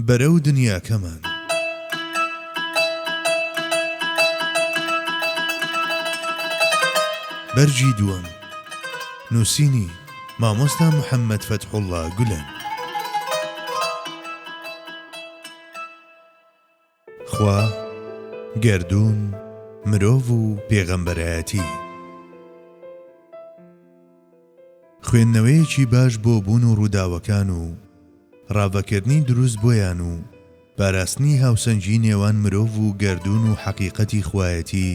بەرەو دنیاکەمان. بەرگی دووەم. نووسینی، مامۆستا محەممەد فەتحوڵڵا گولەن. خوا، گەردوون، مرۆڤ و پێغەمبەرایەتی. خوێندنەوەیەکی باش بۆ بوون و ڕووداوەکان و ڕاڤەکردنی دروست بۆیان و پاراستنی هاوسەنگی نێوان مرۆڤ و گەردوون و حەقیقەتی خوایەتی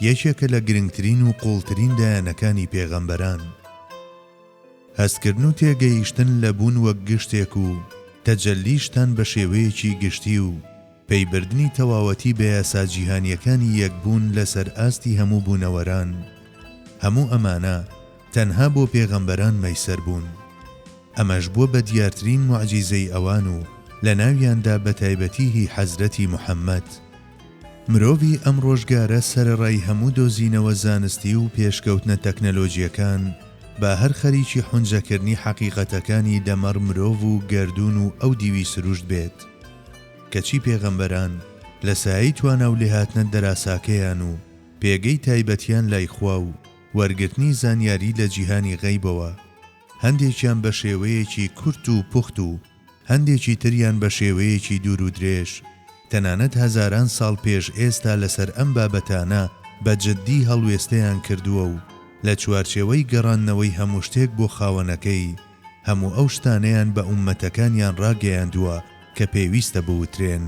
یەکێکە لە گرنگترین و قووڵترین لایەنەکانی پێغەمبەران، هەستکردن و تێگەیشتن لە بوون وەک گشتێک و تەجەلیشتان بە شێوەیەکی گشتی و پەیبردنی تەواوەتی بە یاسا جیهانییەکانی یەک بوون لەسەر ئاستی هەموو بوونەوەران، هەموو ئەمانە تەنها بۆ پێغەمبەران مەیسەر بوون. ئەمەش بووە بە دیارترین موعجیزەی ئەوان و لە ناویاندا بە تایبەتی هی حەزرەتی محەمەد، مرۆڤی ئەم ڕۆژگارە سەرەڕای هەموو دۆزینەوە زانستی و پێشکەوتنە تەکنەلۆجیەکان با هەر خەریکی حونجەکردنی حەقیقەتەکانی دەمەڕ مرۆڤ و گەردوون و ئەو دیوی سروشت بێت کەچی پێغەمبەران لە سایەی توانا و لێهاتنە دەراساکەیان و پێگەی تایبەتیان لای خوا و وەرگرتنی زانیاری لە جیهانی غەیبەوە هەندێکیان بە شێوەیەکی کورت و پوخت و هەندێکی تریان بە شێوەیەکی دوور و درێژ، تەنانەت هەزاران ساڵ پێش ئێستا لەسەر ئەم بابەتانە بە جددی هەڵوێستەیان کردووە و لە چوارچێوەی گەڕاندنەوەی هەموو شتێک بۆ خاوەنەکەی، هەموو ئەو شتانەیان بە ئوممەتەکانیان ڕاگەیاندووە کە پێویستە بوترێن.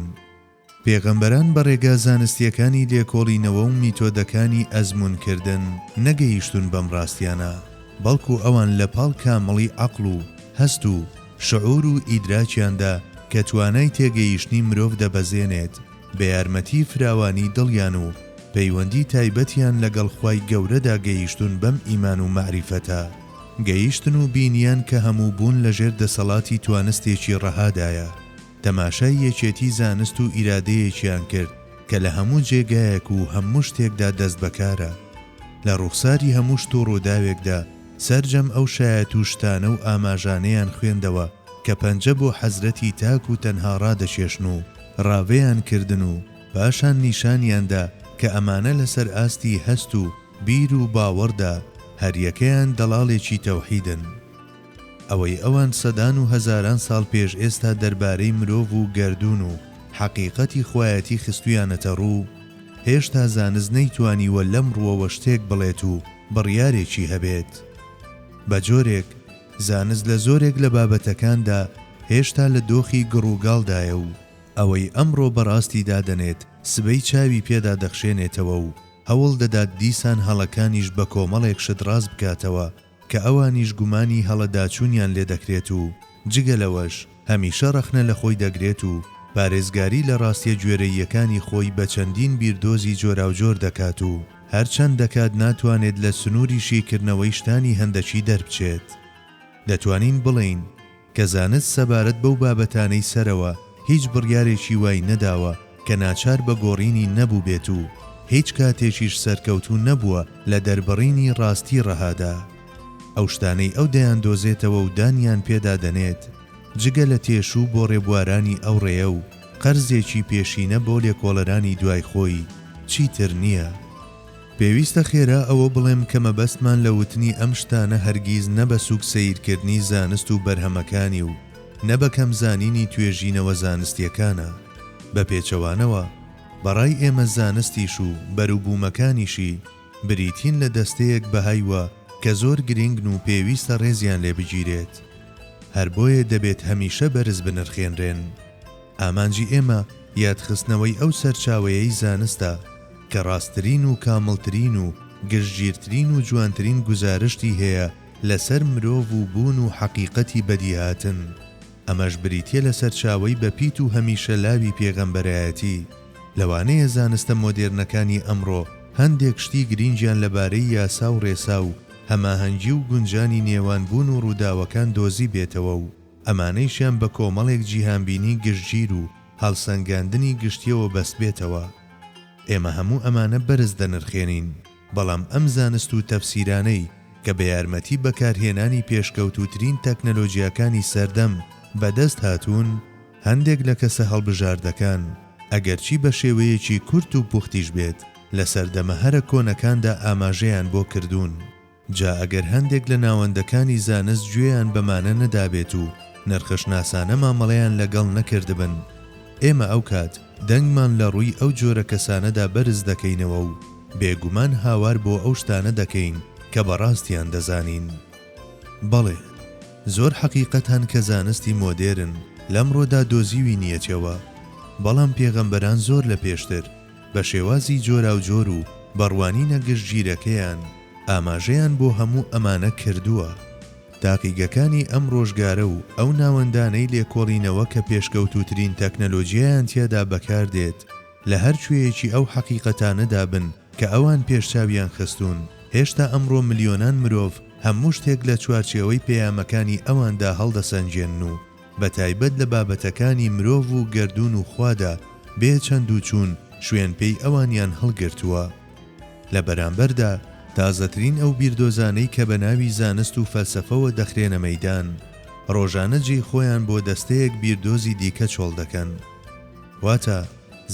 پێغەمبەران بە ڕێگا زانستییەکانی لێکۆڵینەوە و میتۆدەکانی ئەزموونکردن نەگەیشتوون بەم ڕاستیانە، بەڵکو ئەوان لە پاڵ کامڵی عەقڵ و هەست و شعور و ئیدراکیاندا کە توانای تێگەیشتنی مرۆڤ دەبەزێنێت، بە یارمەتیی فراوانی دڵیان و پەیوەندی تایبەتیان لەگەڵ خوای گەورەدا گەیشتوون بەم ئیمان و مەعریفەتە گەیشتن و بینیان کە هەموو بوون لەژێر دەسەڵاتی توانستێکی ڕەهادایە. تەماشای یەکێتی زانست و ئیرادەیەکیان کرد کە لە هەموو جێگایەک و هەموو شتێکدا دەستبەکارە. لە ڕوخساری هەموو شت و ڕووداوێکدا سەرجەم ئەو شایەت و شتانە و ئاماژانەیان خوێندەوە کە پەنجە بۆ حەزرەتی تاک و تەنها ڕادەکێشن و ڕاڤەیان کردن و پاشان نیشانیان دا کە ئەمانە لەسەر ئاستی هەست و بیر و باوەڕدا هەریەکەیان دەڵاڵێکی تەوحیدن. ئەوەی ئەوان سەدان و هەزاران ساڵ پێش ئێستا دەربارەی مرۆڤ و گەردوون و حەقیقەتی خوایەتی خستوویانەتە ڕوو، هێشتا زانست نەیتوانیوە لەم ڕووەوە شتێک بڵێت و بڕیارێکی هەبێت. بە جۆرێک، زانست لە زۆرێک لە بابەتەکاندا هێشتا لە دۆخی گڕوگاڵدایە و ئەوەی ئەمڕۆ بە ڕاستی دادەنێت، سبەی چاوی پێ دادەخشێنێتەوە و هەوڵ دەدات دیسان هەڵەکانیش بە کۆمەڵێک شت ڕاست بکاتەوە، کە ئەوانیش گومانی هەڵەداچوونیان لێ دەکرێت و جگە لەوەش هەمیشە ڕەخنە لە خۆی دەگرێت و پارێزگاری لە ڕاستیە گوێرەییەکانی خۆی بە چەندین بیردۆزی جۆراوجۆر دەکات و هەر چەند دەکات ناتوانێت لە سنووری شیکردنەوەی شتانی هەندەکی دەربچێت. دەتوانین بڵێین. کە زانست سەبارەت بەو بابەتانەی سەرەوە هیچ بڕیارێکی وای نەداوە کە ناچار بە گۆڕینی نەبووبێت و هیچ کاتێکیش سەرکەوتوو نەبووە لە دەربڕینی ڕاستی ڕەهادا. ئەو شتانەی ئەو دەیاندۆزێتەوە و دانیان پێدا دەنێت جگە لە تێشوو بۆ ڕێبوارانی ئەو ڕێیە و قەرزێکی پێشینە بۆ لێکۆڵەرانی دوای خۆی چیتر نییە. پێویستە خێرا ئەوە بڵێم کە مەبەستمان لە وتنی ئەم شتانە هەرگیز نە بە سووک سەیرکردنی زانست و بەرهەمەکانی و نە بە کەم زانینی توێژینەوە زانستییەکانە. بە پێچەوانەوە، بە ڕای ئێمە زانستیش و بەروبوومەکانیشی بریتین لە دەستەیەک بەهای وە کە زۆر گرینگن و پێویستە ڕێزیان لێ بگیرێت. هەر بۆیە دەبێت هەمیشە بەرز بنرخێنرێن. ئامانجی ئێمە یادخستنەوەی ئەو سەرچاوەیەی زانستە کە ڕاستترین و کامڵترین و گشتگیرترین و جوانترین گوزارشتی هەیە لەسەر مرۆڤ و بوون و حەقیقەتی بەدیهاتن، ئەمەش بریتیە لە سەرچاوەی بەپیت و هەمیشە لاوی پێغەمبەرایەتی، لەوانەیە زانستە مۆدێرنەکانی ئەمڕۆ هەندێک شتی گرینگیان لەبارەی یاسا و ڕێسا و هەماهەنگی و گونجانی نێوان بوون و ڕووداوەکان دۆزیبێتەوە و، ئەمانەیشیان بە کۆمەڵێک جیهانبینی گشتگیر و هەڵسەنگاندنی گشتییەوە بەستبێتەوە. ئێمە هەموو ئەمانە بەرز دەنرخێنین، بەڵام ئەم زانست و تەفسیرانەی کە بە یارمەتی بەکارهێنانی پێشکەوتووترین تەکنەلۆجیاکانی سەردەم بەدەست هاتوون، هەندێک لە کەسە هەڵبژاردەکان، ئەگەرچی بە شێوەیەکی کورت و پوختیش بێت، لە سەردەمە هەرە کۆنەکاندا ئاماژەیان بۆ کردوون. جا ئەگەر هەندێک لە ناوەندەکانی زانست گوێیان بەمانە نەدابێت و نرخەشناسانە مامەڵەیان لە گەڵ نەکردبن، ئێمە ئەو کات دەنگمان لە ڕووی ئەو جۆرە کەسانەدا بەرز دەکەینەوە و بێ گومان هاوار بۆ ئەو شتانە دەکەین کە بە ڕاستیان دەزانین. بەڵێ، زۆر حەقیقەت هەن کە زانستی مۆدێرن لەمڕۆدا دۆزیوینیەتیەوە، بەڵام پێغەمبەران زۆر لە پێشتر، بە شێوازی جۆراوجۆر و بە ڕوانینە گشتگیرەکەیان ئاماژەیان بۆ هەموو ئەمانە کردووە. تاقیگەکانی ئەم ڕۆژگارە و ئەو ناوەندانەی لێکۆڵینەوە کە پێشکەوتووترین تەکنەلۆجیایان تیادا بەکار دێت لە هەر کوێیەکی ئەو حەقیقەتانەدا بن کە ئەوان پێش چاویان خستوون، هێشتا ئەمڕۆ ملیۆنان مرۆڤ هەموو شتێک لە چوارچێوەی پەیامەکانی ئەواندا هەڵدەسەنگێنن و بەتایبەت لە بابەتەکانی مرۆڤ و گەردوون و خوادا بێ چەند و چوون شوێن پێی ئەوانیان هەڵگرتووە. لە بەرامبەردا تازەترین ئەو بیردۆزانەی کە بە ناوی زانست و فەلسەفەوە دەخرێنە مەیدان، ڕۆژانە جێی خۆیان بۆ دەستەیەک بیردۆزی دیکە چۆڵ دەکەن. واتە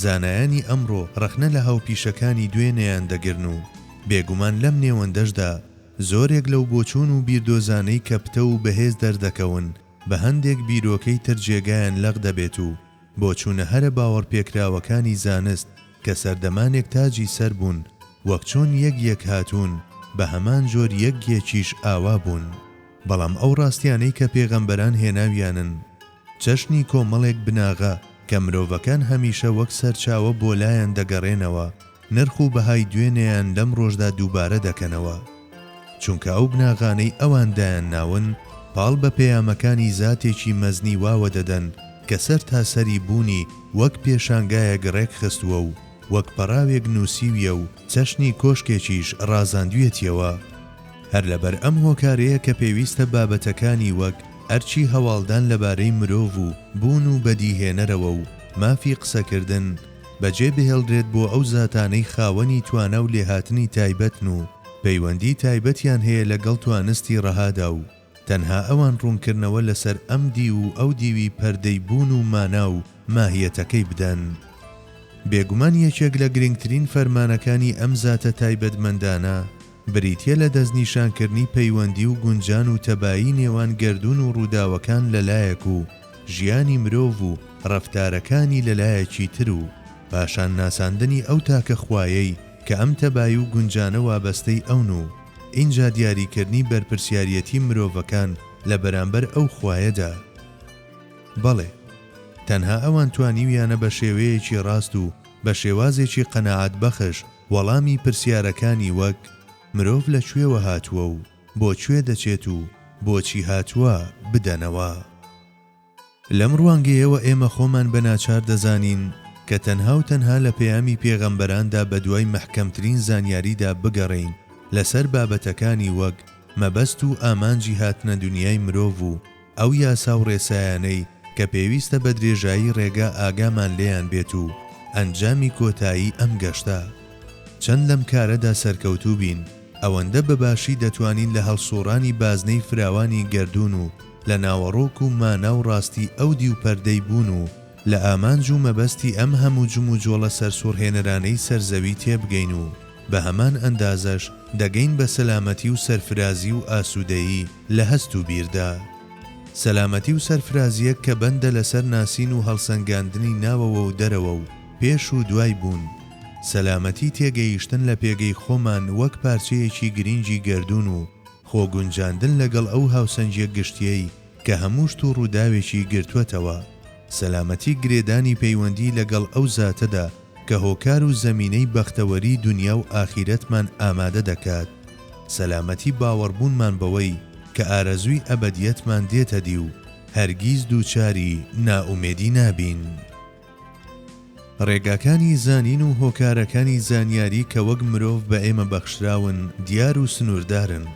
زانایانی ئەمڕۆ ڕەخنە لە هاوپیشەکانی دوێنێیان دەگرن و بێگومان لەم نێوەندەشدا زۆرێک لەو بۆچوون و بیردۆزانەی کە پتەو و بەهێز دەردەکەون، بە هەندێک بیرۆکەی تر جێگایان لەق دەبێت و بۆچوونە هەرە باوەڕپێکراوەکانی زانست کە سەردەمانێک تاجی سەر بوون وەک چۆن یەک یەک هاتوون بە هەمان جۆر یەک یەکیش ئاوا بوون بەڵام ئەو ڕاستیانەی کە پێغەمبەران هێناویانن چەشنی کۆمەڵێک بناغە کە مرۆڤەکان هەمیشە وەک سەرچاوە بۆ لایان دەگەڕێنەوە. نرخ و بەهای دوێنێیان لەم ڕۆژدا دووبارە دەکەنەوە، چونکە ئەو بناغانەی ئەوان دایان ناون پاڵ بە پەیامەکانی زاتێکی مەزنی واوە دەدەن کە سەرتاسەری بوونی وەک پێشانگایەک ڕێکخستووە و وەک پەڕاوێک نووسیویە و چەشنی کۆشکێکیش ڕازاندویەتیەوە. هەر لەبەر ئەم هۆکارەیە کە پێویستە بابەتەکانی وەک ئەرکی هەواڵدان لەبارەی مرۆڤ و بوون و بەدیهێنەرەوە و مافی قسەکردن، بەجێ بهێڵرێت بۆ ئەو زاتانەی خاوەنی توانا و لێهاتنی تایبەتن و پەیوەندی تایبەتیان هەیە لە گەڵ توانستی ڕەهادا و تەنها ئەوان ڕوونکردنەوە لە سەر ئەم دیو و ئەو دیوی پەردەی بوون و مانا و ماهیەتەکەی بدەن. بێگومان یەکێک لە گرنگترین فەرمانەکانی ئەم زاتە تایبەتمەندانە، بریتییە لە دەستنیشانکردنی پەیوەندی و گونجان و تەبایی نێوان گەردوون و ڕووداوەکان لە لایەک و ژیانی مرۆڤ و ڕەفتارەکانی لە لایەکی تر و پاشان ناساندنی ئەو تاکە خوایەی کە ئەم تەبایی و گونجانە وابەستەی ئەون و ئینجا دیاریکردنی بەرپرسیاریەتی مرۆڤەکان لە بەرامبەر ئەو خوایەدا. بەڵێ تەنها ئەوان توانیویانە بە شێوەیەکی ڕاست و بە شێوازێکی قەناعەتبەخش، وەڵامی پرسیارەکانی وەک، مرۆڤ لە کوێوە هاتووە و بۆ کوێ دەچێت و بۆچی هاتووە، بدەنەوە. لەم ڕوانگەیەوە ئێمە خۆمان بە ناچار دەزانین کە تەنها و تەنها لە پەیامی پێغەمبەراندا بە دوای مەحکەمترین زانیاریدا بگەڕێین لەسەر بابەتەکانی وەک مەبەست و ئامانجی هاتنە دنیای مرۆڤ و ئەو یاسا و ڕێسایانەی کە پێویستە بە درێژایی ڕێگا ئاگامان لێیان بێت و ئەنجامی کۆتایی ئەم گەشتە. چەند لەم کارەدا سەرکەوتوو بین، ئەوەندە بە باشی دەتوانین لە هەڵسووڕانی بازنەی فراوانی گەردوون و لە ناوەڕۆک و مانا و ڕاستی ئەو دیو پەردەی بوون و لە ئامانج و مەبەستی ئەم هەموو جموجۆڵە سەرسوڕهێنەرانەی سەر زەوی تێبگەین و بە هەمان ئەندازەش دەگەین بە سەلامەتی و سەرفرازی و ئاسوودەیی لە هەست و بیردا. سەلامەتی و سەرفرازییەک کە بەندە لەسەر ناسین و هەڵسەنگاندنی ناوەوە و دەرەوە و پێش و دوای بوون. سەلامەتی تێگەیشتن لە پێگەی خۆمان وەک پارچەیەکی گرینگی گەردوون و خۆ گونجاندن لەگەڵ ئەو هاوسەنگییە گشتییەی کە هەموو شت و ڕووداوێکی گرتووەتەوە. سەلامەتی گرێدانی پەیوەندی لەگەڵ ئەو زاتەدا کە هۆکار و زەمینەی بەختەوەری دونیا و ئاخیرەتمان ئامادە دەکات، سەلامەتی باوەڕبوونمان بەوەی کە ئارەزووی ئەبەدیەتمان دێتەدی و هەرگیز دووچاری نائومێدی نابین. ڕێگاکانی زانین و هۆکارەکانی زانیاری کە وەک مرۆڤ بە ئێمە بەخشراون دیار و سنووردارن.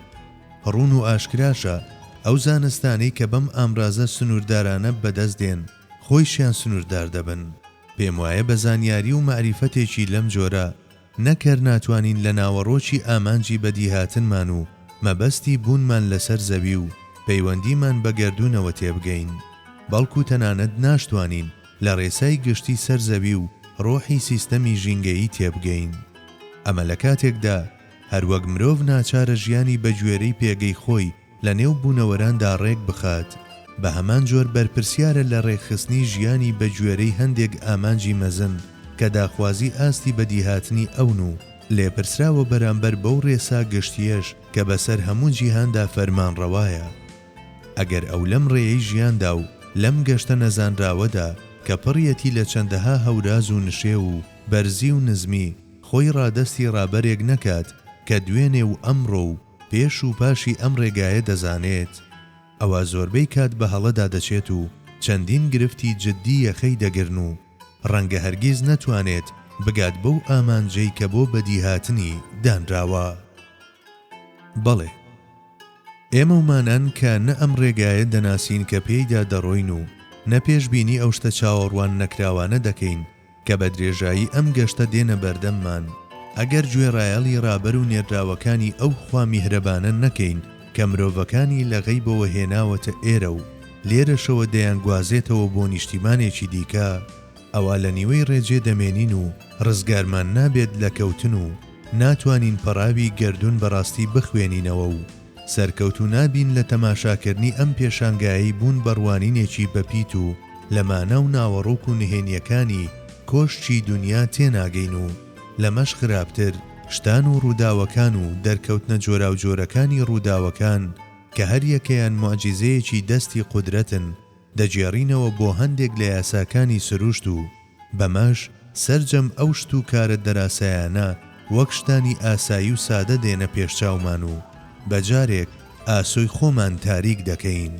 ڕوون و ئاشکراشە ئەو زانستانەی کە بەم ئامرازە سنووردارانە بەدەست دێن خۆیشیان سنووردار دەبن. پێموایە بە زانیاری و مەعریفەتێکی لەم جۆرە نەک هەر ناتوانین لە ناوەڕۆکی ئامانجی بەدیهاتنمان و مەبەستی بوونمان لەسەر زەوی و پەیوەندیمان بە گەردوونەوە تێبگەین، بەڵکو تەنانەت ناشتوانین لە رێسای گشتی سەر زەوی و رۆحی سیستەمی ژینگەیی تێبگەین. ئەمە لە کاتێکدا هەروەک مرۆڤ ناچارە ژیانی بەگوێرەی پێگەی خۆی لە نێو بوونەوەراندا ڕێک بخات، بە هەمان جۆر بەرپرسیارە لە ڕێکخستنی ژیانی بە گوێرەی هەندێک ئامانجی مەزن کە داخوازی ئاستی بەدیهاتنی ئەون و لێپرسراوە بەرامبەر بەو ڕێسا گشتییەش کە بە سەر هەموو جیهاندا فەرمانڕەوایە. ئەگەر ئەو لەم ڕێیەی ژیاندا و لەم گەشتە نەزانراوەدا کە پڕیەتی لە چەندەها هەوراز و نشێو و بەرزی و نزمی خۆی ڕادەستی ڕابەرێک نەکات کە دوێنێ و ئەمڕۆ و پێش و پاشی ئەم ڕێگایە دەزانێت، ئەوا زۆربەی کات بە هەڵەدا دەچێت و چەندین گرفتی جددی یەخەی دەگرن و ڕەنگە هەرگیز نەتوانێت بگات بەو ئامانجەی کە بۆ بەدیهاتنی دانراوە. بەڵێ، ئێمە ومانان کە نە ئەم ڕێگایە دەناسین کە پێیدا دەڕۆین و نە پێشبینی ئەو شتە چاوەڕوان نەکراوانە دەکەین، کە بە درێژایی ئەم گەشتە دێنە بەردەممان، ئەگەر گوێڕایەڵی ڕابەر و نێردراوەکانی ئەو خوا میهرەبانە نەکەین کە مرۆڤەکانی لە غەیبەوە هێناوەتە ئێرە و لێرەشەوە دەیانگوازێتەوە بۆ نیشتیمانێکی دیکە، ئەوا لە نیوەی ڕێجێ دەمێنین و ڕزگارمان نابێت لە کەوتن و ناتوانین پەڕاوی گەردوون بەڕاستی بخوێنینەوە و سەرکەوتو نابین لە تەماشاکردنی ئەم پێشانگایەی بوون بە ڕوانینێکی بەپیت و لە مانا و ناوەڕۆک و نهێنیەکانی کۆشکی دونیا تێناگەین و لەمەش خراپتر شتان و ڕوداوەکان و دەرکەوتنە جۆراوجۆرەکانی ڕوداوەکان کە هەریەکەیان موعجیزەیەکی دەستی قودرەتن دەگێڕینەوە بۆ هەندێک لە یاساکانی سروشت و بەمەش سەرجەم ئەو شت و کارە دەراسایانە وەک شتانی ئاسایی و سادە دێنە پێشچاومان و بە جارێک ئاسۆی خۆمان تاریک دەکەین.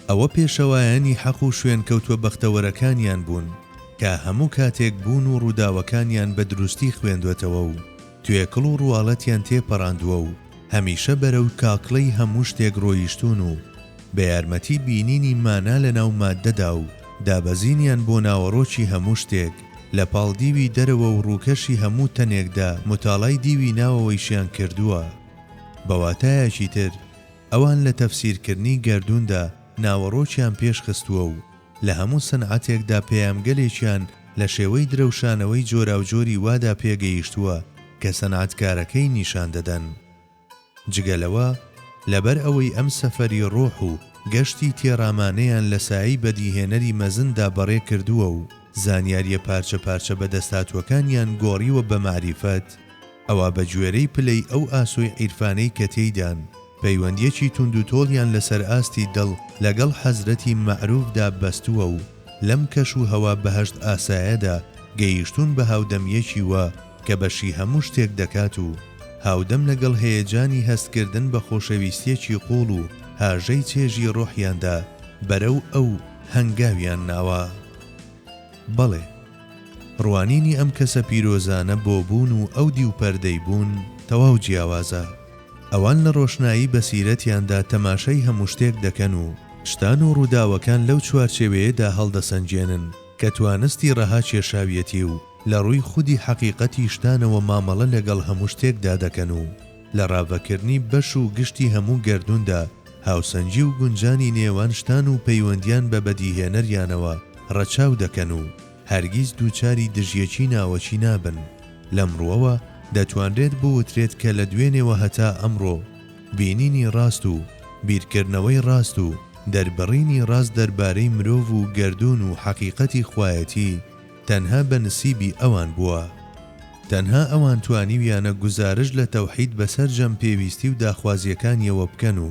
ئەوە پێشەوایانی حەق و شوێنکەوتوە بەختەوەرەکانیان بوون کە هەموو کاتێک بوون و ڕووداوەکانیان بە دروستی خوێندوەتەوە و توێکڵ و ڕواڵەتیان تێپەڕاندوە و، هەمیشە بەرەو تاکڵەی هەموو شتێک ڕۆیشتوون و بە یارمەتی بینینی مانا لە ناو ماددەدا و دابەزینیان بۆ ناوەڕۆکی هەموو شتێک لە پاڵ دیوی دەرەوە و ڕووکەشی هەموو تەنێکدا موتاڵای دیوی ناوەوەیشیان کردووە. بە واتایەکی تر ئەوان لە تەفسیرکردنی گەردووندا ناوەڕۆکیان پێش خستووە و لە هەموو سنعەتێکدا پێامگەلێکیان لە شێوەی درەوشانەوەی جۆراوجۆری وادا پێگەیشتووە کە سنعەتکارەکەی نیشان دەدەن. جگە لەوە، لەبەر ئەوەی ئەم سەفەری ڕۆح و گەشتی تێڕامانەیان لە سایەی بەدیهێنەری مەزندا بەڕێ کردووە و زانیارییە پارچە پارچە بەدەستهاتووەکانیان گۆڕیوە بە مەعریفەت، ئەوا بە گوێرەی پلەی ئەو ئاسۆی عیرفانەی کە تێیدان، پەیوەندیەکی توندوتۆڵیان لە سەر ئاستی دڵ لە گەڵ حەزرەتی مەعروفدا بەستووە و لەم کەش و هەوا بەهەشت ئاسایەدا گەیشتوون بە هاودەمیەکی وا کە بەشی هەموو شتێک دەکات و هاودەم لە گەڵ هەیەجانی هەست کردن بە خۆشەویستیەکی قوڵ و هاژەی چێژی ڕۆحیاندا بەرەو ئەو هەنگاویان ناوە. بەڵێ! ڕوانینی ئەم کەسە پیرۆزانە بۆ بوون و ئەو دیو پەردەی بوون تەواو جیاوازە. ئەوان لە ڕۆشنایی بەسیرەتیاندا تەماشای هەموو شتێک دەکەن و شتان و ڕووداوەکان لەو چوارچێوەیەدا هەڵدەسەنگێنن کە توانستی ڕەها کێشاویەتی و لە ڕووی خودی حەقیقەتی شتانەوە مامەڵە لەگەڵ هەموو شتێکدا دەکەن و لە ڕاڤەکردنی بەش و گشتی هەموو گەردووندا هاوسەنگی و گونجانی نێوان شتان و پەیوەندیان بە بەدیهێنەریانەوە ڕەچاو دەکەن و هەرگیز دووچاری دژیەکی ناوەکی نابن. لەم ڕووەوە دەتوانرێت بوترێت کە لە دوێنێوە هەتا ئەمڕۆ بینینی ڕاست و بیرکردنەوەی ڕاست و دەربڕینی ڕاست دەربارەی مرۆڤ و گەردوون و حەقیقەتی خوایەتی، تەنها بە نسیبی ئەوان بووە. تەنها ئەوان توانیویانە گوزارشت لە تەوحید بە سەرجەم پێویستی و داخوازیەکانیەوە بکەن و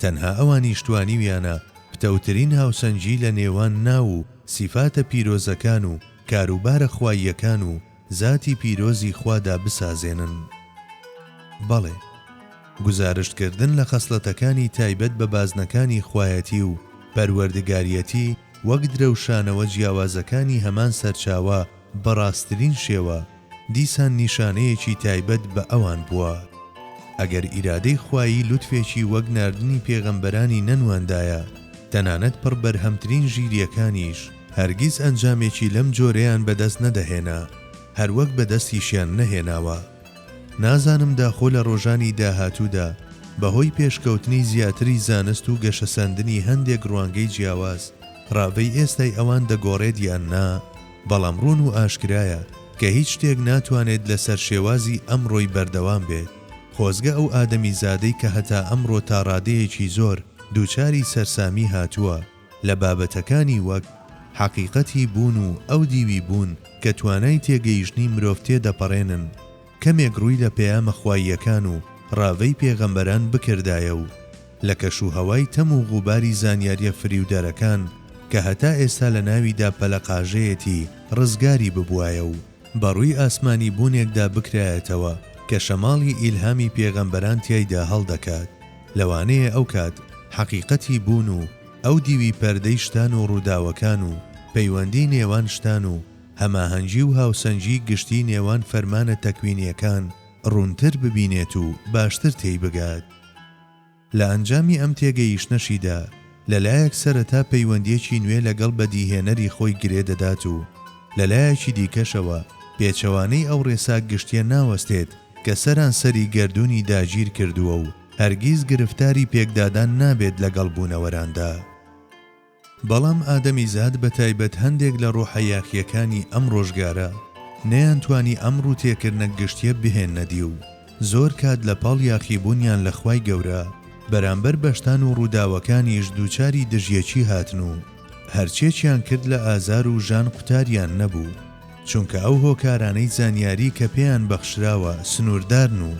تەنها ئەوانیش توانیویانە پتەوترین هاوسەنگی لە نێوان ناو و سیفاتە پیرۆزەکان و کاروبارە خواییەکان و زاتی پیرۆزی خوادا بسازێنن. بەڵێ گوزارشت کردن لە خەسڵەتەکانی تایبەت بە بازنەکانی خوایەتی و پەروەردگاریەتی، وەک درەوشانەوە جیاوازەکانی هەمان سەرچاوە بە ڕاستترین شێوە، دیسان نیشانەیەکی تایبەت بە ئەوان بووە. ئەگەر ئیرادەی خوایی لوتفێکی وەک ناردنی پێغەمبەرانی نەنواندایە، تەنانەت پڕ بەرهەمترین ژیرییەکانیش هەرگیز ئەنجامێکی لەم جۆرەیان بەدەست نەدەهێنا، هەروەک بەدەستیشیان نەهێناوە. نازانم داخۆ لە ڕۆژانی داهاتوودا بەهۆی پێشکەوتنی زیاتری زانست و گەشەسەندنی هەندێک ڕوانگەی جیاواز، ڕاڤەی ئێستای ئەوان دەگۆڕێت یان نا، بەڵام ڕوون و ئاشکرایە کە هیچ شتێک ناتوانێت لەسەر شێوازی ئەمڕۆی بەردەوام بێت، خۆزگە ئەو ئادەمیزادەی کە هەتا ئەمڕۆ تاڕادەیەکی زۆر دووچاری سەرسامی هاتووە، لە بابەتەکانی وەک، حەقیقەتی بوون و ئەو دیوی بوون کە توانای تێگەیشتنی مرۆڤ تێ دەپەڕێنن، کەمێک ڕووی لە پەیامە خواییەکان و ڕاڤەی پێغەمبەران بکردایە و لە کەش و هەوای تەم و غوباری زانیاریە فریودەرەکان کە هەتا ئێستا لە ناویدا پەلەقاژەیەتی ڕزگاری ببوایە و بە ڕووی ئاسمانی بوونێکدا بکرایەتەوە کە شەماڵی ئیلهامی پێغەمبەران تیایدا هەڵدەکات، لەوانەیە ئەو کات حەقیقەتی بوون و ئەو دیوی پەردەی شتان و ڕووداوەکان و پەیوەندی نێوان شتان و هەماهەنگی و هاوسەنگی گشتی نێوان فەرمانە تەکوینیەکان ڕوونتر ببینێت و باشتر تێی بگات. لە ئەنجامی ئەم تێگەیشتنەشیدا، لە لایەک سەرەتا پەیوەندییەکی نوێ لەگەڵ بەدیهێنەری خۆی گرێ دەدات و لە لایەکی دیکەشەوە پێچەوانەی ئەو ڕێسا گشتییە ناوەستێت کە سەرانسەری گەردوونی داگیر کردووە و هەرگیز گرفتاری پێکدادان نابێت لەگەڵ بوونەوەراندا. بەڵام ئادەمیزاد بە تایبەت هەندێک لە ڕۆحە یاخییەکانی ئەم ڕۆژگارە نەیانتوانی ئەم ڕووتێکردنە گشتییە بهێننە دی و زۆر کات لە پاڵ یاخیبوونیان لە خوای گەورە بەرامبەر بەشتان و ڕووداوەکانیش دووچاری دژیەکی هاتن و هەرچێکیان کرد لە ئازار و ژان قوتاریان نەبوو چونکە ئەو هۆکارانەی زانیاری کە پێیان بەخشراوە سنووردارن و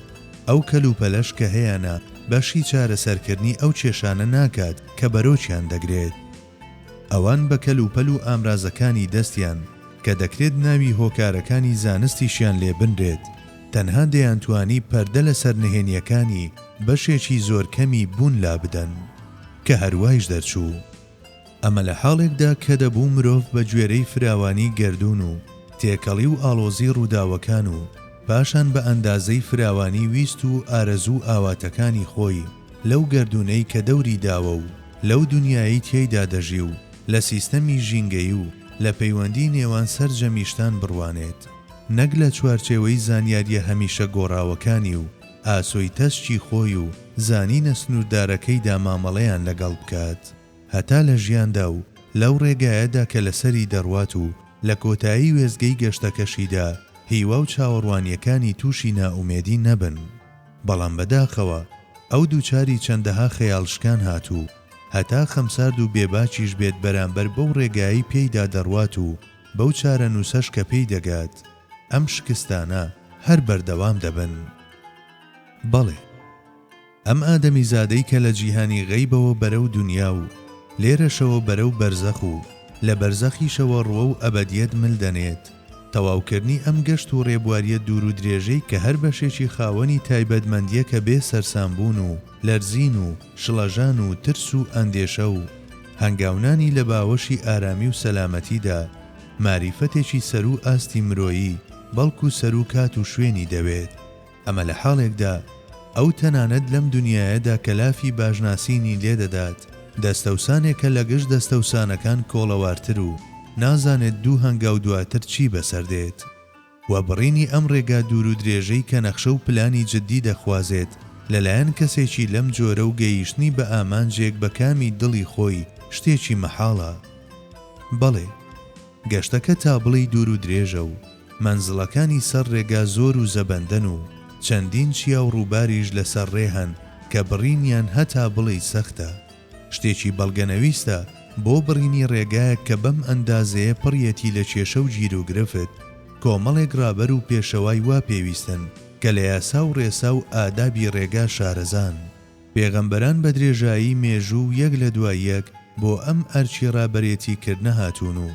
ئەو کەلوپەلەش کە هەیانە بەشی چارەسەرکردنی ئەو کێشانە ناکات کە بەرۆکیان دەگرێت. ئەوان بە کەلوپەل و ئامرازەکانی دەستیان، کە دەکرێت ناوی هۆکارەکانی زانستیشیان لێ بنرێت، تەنها دەیانتوانی پەردە لەسەر نهێنییەکانی بەشێکی زۆر کەمی بوون لابدەن. کە هەروایش دەرچوو. ئەمە لە حاڵێکدا کە دەبوو مرۆڤ بە گوێرەی فراوانی گەردوون و تێکەڵی و ئاڵۆزی ڕووداوەکان و پاشان بە ئەندازەی فراوانی ویست و ئارەزوو و ئاواتەکانی خۆی، لەو گەردوونەی کە دەوری داوە و لەو دونیایەی تیایدا دەژی و لە سیستەمی ژینگەیی و لە پەیوەندی نێوان سەرجەمی شتان بڕوانێت نەک لە چوارچێوەی زانیاریە هەمیشە گۆڕاوەکانی و ئاسۆی تەسکی خۆی و زانینە سنوردارەکەیدا مامەڵەیان لەگەڵ بکات هەتا لە ژیاندا و لەو ڕێگایەدا کە لەسەری دەڕوات و لە کۆتایی وێستگەی گەشتەکەشیدا هیوا و چاوەڕوانیەکانی تووشی نائومێدی نەبن. بەڵام بەداخەوە ئەو دووچاری چەندەها خەیاڵ شکان هاتوو، هەتا خەمسارد و بێ باکیش بێت بەرامبەر بەو ڕێگایەی پێیدا دەڕوات و بەو چارەنووسەش کە پێی دەگات، ئەم شکستانە هەر بەردەوام دەبن. بەڵێ، ئەم ئادەمیزادەی کە لە جیهانی غەیبەوە بەرەو دونیا و لێرەشەوە بەرەو بەرزەخ و لە بەرزەخیشەوە ڕوەو ئەبەدیەت مل دەنێت، تەواوکردنی ئەم گەشت و ڕێبواریە دوور و درێژەی کە هەر بەشێکی خاوەنی تایبەتمەندیەکە بێ سەرسام بوون و لەرزین و شڵەژان و ترس و ئەندێشە و هەنگاونانی لە باوەشی ئارامی و سەلامەتیدا ماریفەتێکی سەروو ئاستی مرۆیی بەڵکو سەروو کات و شوێنی دەوێت. ئەمە لە حاڵێکدا ئەو تەنانەت لەم دونیایەدا کە لافی باشناسینی لێ دەدات، دەستەوسانێکە لە گشت دەستەوسانەکان کۆڵەوارتر و نازانێت دوو هەنگاو دواتر چی بەسەر دێت. وە بڕینی ئەم ڕێگا دوورودرێژەی کە نەخشە و پلانی جددی دەخوازێت لە لایەن کەسێکی لەم جۆرە و گەیشتنی بە ئامانجێک بە کامی دڵی خۆی شتێکی مەحاڵە. بەڵێ. گەشتەکە تابڵێی دوور و درێژە و مەنزڵەکانی سەر ڕێگا زۆر و زەبەندەن و چەندین چیا و ڕووباریش لەسەر ڕێ هەن کە بڕینیان هەتا بڵێی سەختە. شتێکی بەڵگەنەویستە بۆ بڕینی ڕێگایەک کە بەم ئەندازەیە پڕیەتی لە کێشە و گیروگرفت، کۆمەڵێک ڕابەر و پێشەوای وا پێویستن کە لە یاسا و ڕێسا و ئادابی ڕێگا شارەزان. پێغەمبەران بە درێژایی مێژوو و یەک لە دوای یەک بۆ ئەم ئەرکی ڕابەرێتی کردنە هاتوون و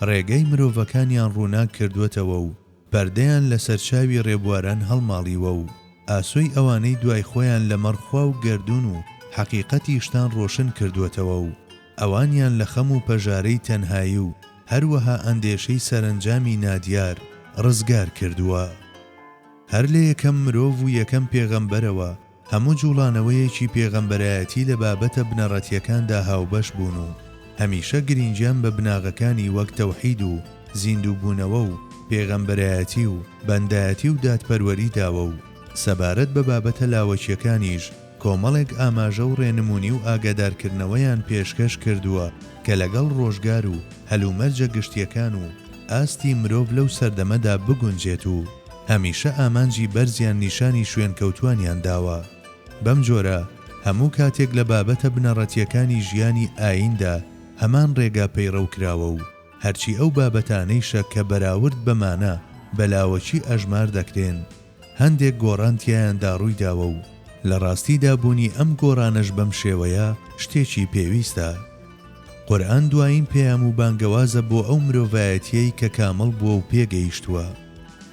ڕێگای مرۆڤەکانیان ڕووناک کردووەتەوە و پەردەیان لەسەر چاوی ڕێبواران هەڵماڵیوە و ئاسۆی ئەوانەی دوای خۆیان لە مەڕ خوا و گەردوون و حەقیقەتی شتان ڕۆشن کردووەتەوە و ئەوانیان لە خەم و پەژارەی تەنهایی و هەروەها ئەندێشەی سەرەنجامی نادیار ڕزگار کردووە. هەر لە یەکەم مرۆڤ و یەکەم پێغەمبەرەوە، هەموو جوڵانەوەیەکی پێغەمبەرایەتی لە بابەتە بنەڕەتیەکاندا هاوبەش بوون و هەمیشە گرینگیان بە بناغەکانی وەک تەوحید و زیندوو بوونەوە و پێغەمبەرایەتی و بەندایەتی و دادپەروەری داوە و سەبارەت بە بابەتە لاوەکیەکانیش کۆمەڵێک ئاماژە و ڕێنمونی و ئاگادارکردنەوەیان پێشکەش کردووە کە لەگەڵ ڕۆژگار و هەلومەرجە گشتیەکان و ئاستی مرۆڤ لەو سەردەمەدا بگونجێت و هەمیشە ئامانجی بەرزیان نیشانی شوێنکەوتووانیان داوە. بەم جۆرە هەموو کاتێک لە بابەتە بنەڕەتییەکانی ژیانی ئاییندا هەمان ڕێگا پەیڕەو کراوە و هەرچی ئەو بابەتانەیشە کە بەراورد بە مانا بە لاوەکی ئەژمار دەکرێن هەندێک گۆڕان تیایاندا ڕووی داوە و لە ڕاستیدا بوونی ئەم گۆڕانەش بەم شێوەیە شتێکی پێویستە. قورئان دوایین پەیام و بانگەوازە بۆ ئەو مرۆڤایەتیەی کە کامڵ بووە و پێگەیشتووە.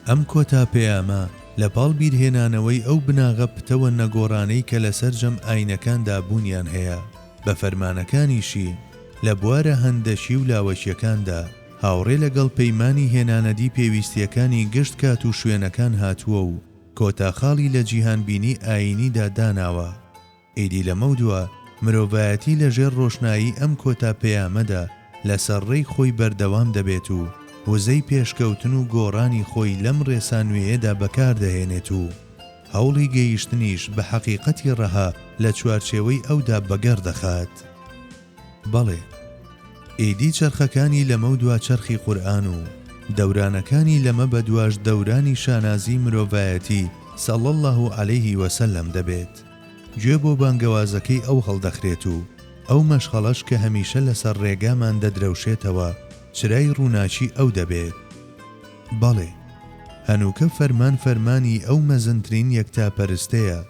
ئەم کۆتا پەیامە لە پاڵ بیرهێنانەوەی ئەو بناغە پتەوە نەگۆڕانەی کە لە سەرجەم ئاینەکاندا بوونیان هەیە بە فەرمانەکانیشی لە بوارە هەندەکی و لاوەکیەکاندا هاوڕێ لە گەڵ پەیمانی هێنانەدی پێویستیەکانی گشت کات و شوێنەکان هاتووە و کۆتا خاڵی لە جیهانبینی ئایینیدا داناوە. ئیدی لەمەودوا مرۆڤایەتی لەژێر ڕۆشنایی ئەم کۆتا پەیامەدا لەسەر ڕێی خۆی بەردەوام دەبێت و وزەی پێشکەوتن و گۆڕانی خۆی لەم ڕێسا نوێیەدا بەکاردەهێنێت و هەوڵی گەیشتنیش بە حەقیقەتی ڕەها لە چوارچێوەی ئەودا بەگەڕ دەخات. بەڵێ، ئیدی چەرخەکانی لەمەودوا چەرخی قورئان و دەورانەکانی لەمەبەدواش دەورانی شانازیی مرۆڤایەتی صلی اللە علیه و سلم دەبێت. گوێ بۆ بانگەوازەکەی ئەو هەڵدەخرێت و ئەو مەشخەڵەش کە هەمیشە لەسەر ڕێگامان دەدرەوشێتەوە چرای ڕووناکی ئەو دەبێت. بەڵێ، هەنووکە فەرمان فەرمانی ئەو مەزنترین یەکتاپەرستەیە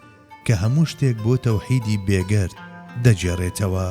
کە هەموو شتێک بۆ تەوحیدی بێگەرد دەگێڕێتەوە.